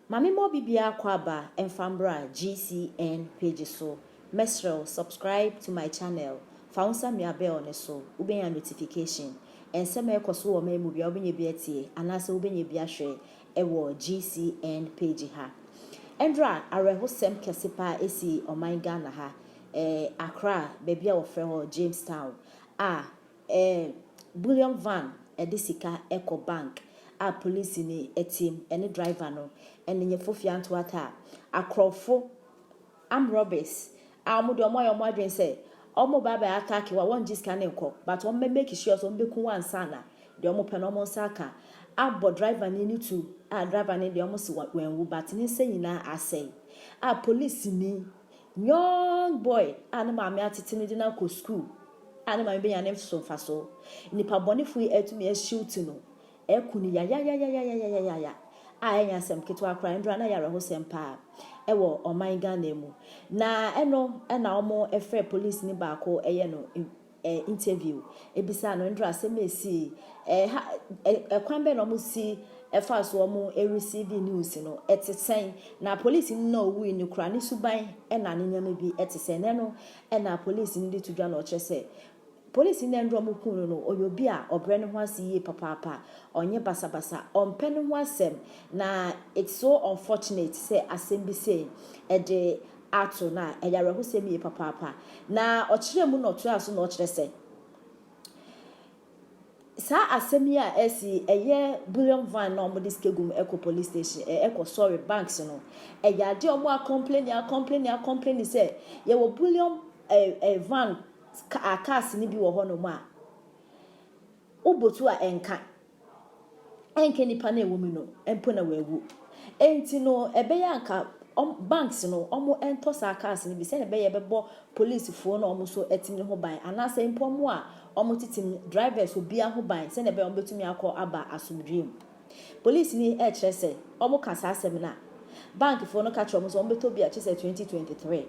Ma me ma obi biara kɔ aba mfa mbra GCN page so mɛsrɛw subscribe to my channel fa wo nsa mia bell no so wobenya notification nsɛm a ɛkɔ so wɔ ɔman mu biara wobenya bi atie anaasɛ wobenya bi ahwɛ wɔ GCN page ha. Ɛnora awerɛhosɛm kɛse paa sii ɔman Ghana ha, eh, Accra, baabi a wɔfrɛ hɔ Jamestown, a, eh, bullion van de sika kɔ bank a polisini team ne driver no ne Nyefo Fiantoata a, akorɔmfo, armed robbers a wɔn deɛ wɔn ayɛ wɔn adwene sɛ wɔn ba abɛ attack wo a wɔn gye sika no nkɔ but wɔn bɛ make sure sɛ wɔn bɛ ku wo ansa na deɛ wɔn pɛ no wɔn nsa aka abɔ driver no no tu a driver no deɛ wɔn se wa wɛn wu but ne nsa nyinaa asɛe a police ni young boy a ne maame atete no de no akɔ school a ne maame bɛ nya ne so nfa so nipa bɔnefo yi atumi ahyiw ti no Ɛreku no yayayayayayayaya a ɛnyɛ asɛm ketewa koraa, ɛno doraa no ayɛ awerɛhosɛm paa wɔ ɔman Ghana mu. Na ɛno na wɔfrɛɛ polisini baako yɛ no interview bisaa no, ɛno doraa asɛm a ɛsii, ha kwan bɛn na wɔsi fa so wɔn receive news no, ɛte sɛn, na polisini no a ɔwui no koraa ne suban na ne nneɛma bi te sɛn, na ɛno na polisini de to dwa na ɔkyerɛ sɛ Polisini no nneɛma a wɔhuu no no, ɔyɛ obi a ɔbrɛ ne ho ase yie papaapa, ɔnyɛ basabasa, ɔmpɛ ne ho asɛm, na it's so unfortunate sɛ asɛm bi sei de ato no a, ɛyɛ awerɛhosɛm yie papaapa. Na ɔkyerɛɛ mu na ɔtoaa so na ɔkyerɛ sɛ, saa asɛm yi a asi yi, ɛyɛ bullion van na wɔde sika gu mu kɔ police station, ɛ, kɔ sorry, banks no, ɛyɛ adeɛ a wɔakɔmpleni, akɔmpleni, akɔmpleni sɛ yɛwɔ bullion ɛ, ɛ, van Ka a cars no bi wɔ hɔ nom a wo botu a ɛnka, ɛnkɛ nipa no a ɛwɔ mu no mpo na wawu. Ɛnti no ɛbɛyɛ a nka ɔm banks no ɔmo ɛntɔ saa cars no bi sɛdeɛ ɛbɛyɛ ɛbɛbɔ police foɔ no a ɔmo so ɛtim no ho ban anaasɛ mpo ɔmo a ɔmo tetem drivers obiara ho ban sɛdeɛ ɛbɛyɛ a ɔmo bɛtumi akɔ aba asomdwoeɛ mu. Police ni ɛkyerɛ sɛ ɔmo ka saa asɛm no a bank foɔ no ka kyerɛ ɔmo sɛ ɔmo bɛtɔ bi a kyesɛ twenty twenty three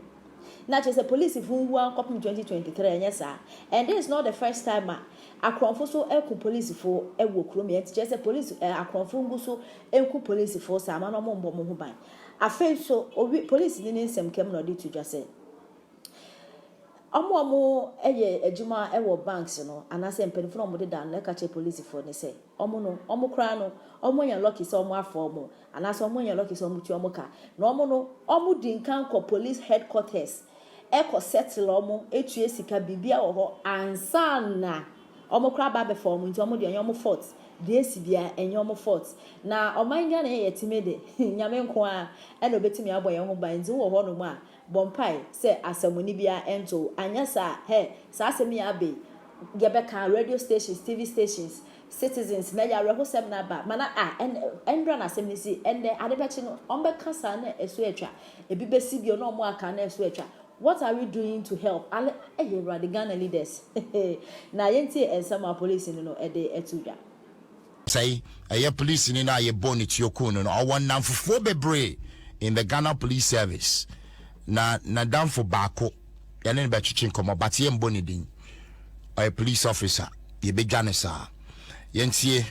na kyesɛ police foɔ nwu ara kɔpem twenty twenty three ɛnyɛ saa and this is not the first time a akorɔnfo so ɛku police foɔ ɛwɔ kurom yɛ nti kyesɛ police ɛɛ akorɔnfo ngu so ɛnku police foɔ saa ma no ɔmo mbɔ ɔmo ho ban afei nso owi police ni ne nsɛm ka mu na ɔde to dwa sɛ ɔmo ɔmo ɛyɛ adwuma ɛwɔ banks no anaa sɛ mpaninfoɔ na ɔmo deda no na ɛka kyerɛ police foɔ no sɛ. Wɔn no, wɔn koraa no, wɔanya lucky sɛ wɔafa wɔn, anaasɛ wɔanya lucky sɛ wɔtua wɔn ka. Na wɔn no, wɔdi nkan kɔ police headquarters kɔ settle wɔn, tua sika, biribiara wɔ hɔ ansa na wɔn koraa aba abɛfa wɔn. Nti wɔn deɛ, ɛnyɛ wɔn fault. Deɛ asi biara, ɛnyɛ wɔn fault. Na ɔman Ghana yi a yɛte mu yi de, Nyame nko ara na obetumi abɔ yɛn ho ban. Nti wowɔ hɔnom a, bɔ mpae sɛ asɛmmɔne biara nto wo, anyɛ saa a, hɛ, saa asɛm yi abɛ yi, yɛbɛka, radio stations, TV stations, citizens, na ɛyɛ awerɛhosɛm na aba, ma na a, ɛn, ɛnora na asɛm no si, ɛnnɛ, ade bɛkye no, wɔbɛka saa na ɛso atwa, ebi bɛsi bio na wɔaka na ɛso atwa, what are we doing to help, ale, ei Awurade, Ghana leaders, hehee, na yɛntie nsɛm a polisini no de to dwa. Sɛi, ɛyɛ polisini no a yɛbɔɔ ne tuo kuu no no. Ɔwɔ nnamfofoɔ bebree in the Ghana Police Service. Na n'adamfo baako, yɛne no bɛtwetwe nkɔmmɔ but yɛmmɔ ne din. Ɔyɛ police officer. Yɛbɛdwa no saa. Yɛntie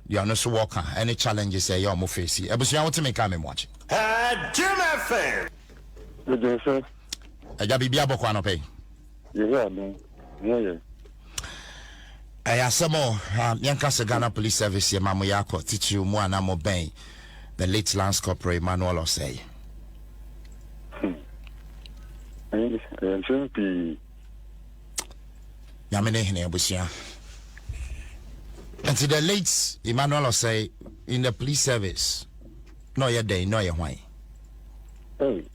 deɛ ɔno nso wɔka ɛne challenges a ɛyɛ wɔn face. Abusua wote me nka me mmoakye. Jim FM. Megyee so. Agya biribi abɔ kɔ anɔpa yi. Yehowa no ho yɛ. Ɛyɛ asɛm o, ha yɛnka sɛ Ghana Police Service yɛ ma mo yɛ akɔ titiriw mu a na mo bɛn the late Lance Corporal Emmanuel Osei. Hmm. Ɛyɛ nsɛm pii. Nyame ne hene abusua. Nti the late Emmanuel Osei in the police service na ɔyɛ dɛn na ɔyɛ hwan?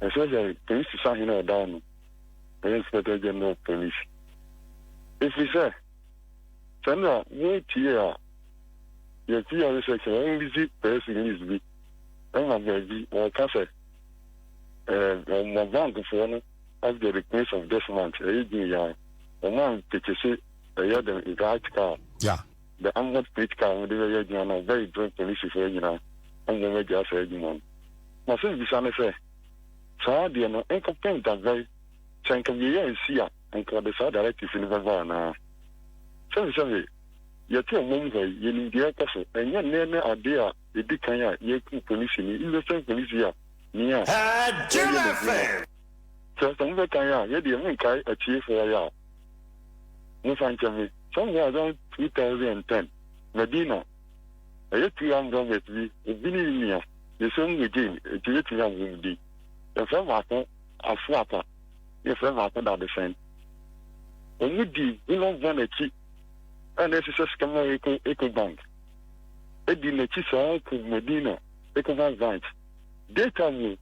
Ɛsɛ sɛ polisi sahene a ɔda hɔ no yɛ Inspector General of Police, ɛfiri sɛ sɛ na wotie a yɛte yare sɛ sɛ wɔrelease press release bi ɛma baabi wɔka sɛ wɔma bankfoɔ no of the replace of this month ɛyɛ June yɛa wɔma nkekyese ɛyɛ dɛn nka akyika a. The Amherst Bridge Car a wɔde bɛyɛ adwuma no bɛn berɛ polisifo agyina mmom agyaa saa adwuma no? M'asɛmbisa ne sɛ, saa adeɛ no nkɔpem da bɛn? Sɛ nka wieɛ ansi a, nka wɔde saa directive no bɛba anaa? Sɛbesɛbe, yɛte ɔmam ha yi, yɛnim deɛ ɛrekɔ so. Ɛnyɛ nnɛ ne adeɛ a ɛdi kan a yɛku polisini, innocent polisi a ni a ɔreyɛ n'adwuma. Sɛ, sɛ mobɛkan a, yɛdeɛ monkae atiefoɔ yɛ a. Momfa nkyɛ me, Sɛnea ɛbɛyɛ a 2010 Medina bɛyɛ two young brothers bi edwene yi nea yɛhyɛ mu yɛ gyen enti yɛatumi abɔ mu din. Yɛfrɛ baako Afrapa na yɛfrɛ baako Dadesɛn. Wɔdi Goodluck Van akyi a na ɛhyehyɛ Skyline Eco Eco Bank adi n'akyi saa kɔ Medina Ecobank branch. Data mu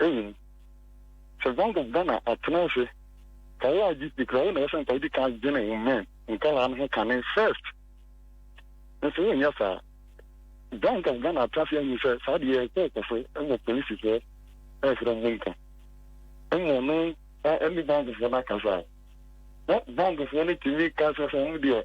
Eyi ni, Sɛ Zango Ghana atsena ase ka wo adze bi koraa a, wo na ɔwɔ sɛ nka edzi kan dwen wo man nkaraa no ho kane first. Nso wonnyɛ saa. Zango Ghana atsena ase annyi sɛ saa deɛ yɛkɔɔ kɔ so wɔ polisifɔɔ ɛɛsrɛ ɔmo nka mmɔ no ɛne Zangofɔɔ no akasa a, na Zangofɔɔ no tumi ka kyerɛ sɛ ɔmo deɛ,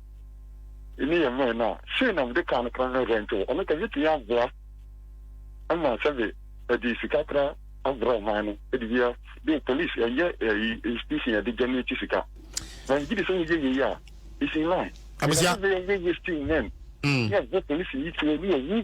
Emi yɛ mɛn no a, sei na mede kaa no kra no rentwe. Ɔno ka, metumi aboa ma sɛbe ɛde sika kra abrɛ ɔman no de wia de police ɛyɛ ɛyi institution yɛde gya n'akyi sika. Na megye di sɛ woyɛ yei a, it's in line. Abusua. Ɛdɛ sɛ yɛyɛ wasting men. Yɛ bɔ police yi tuo ne yɛ wu.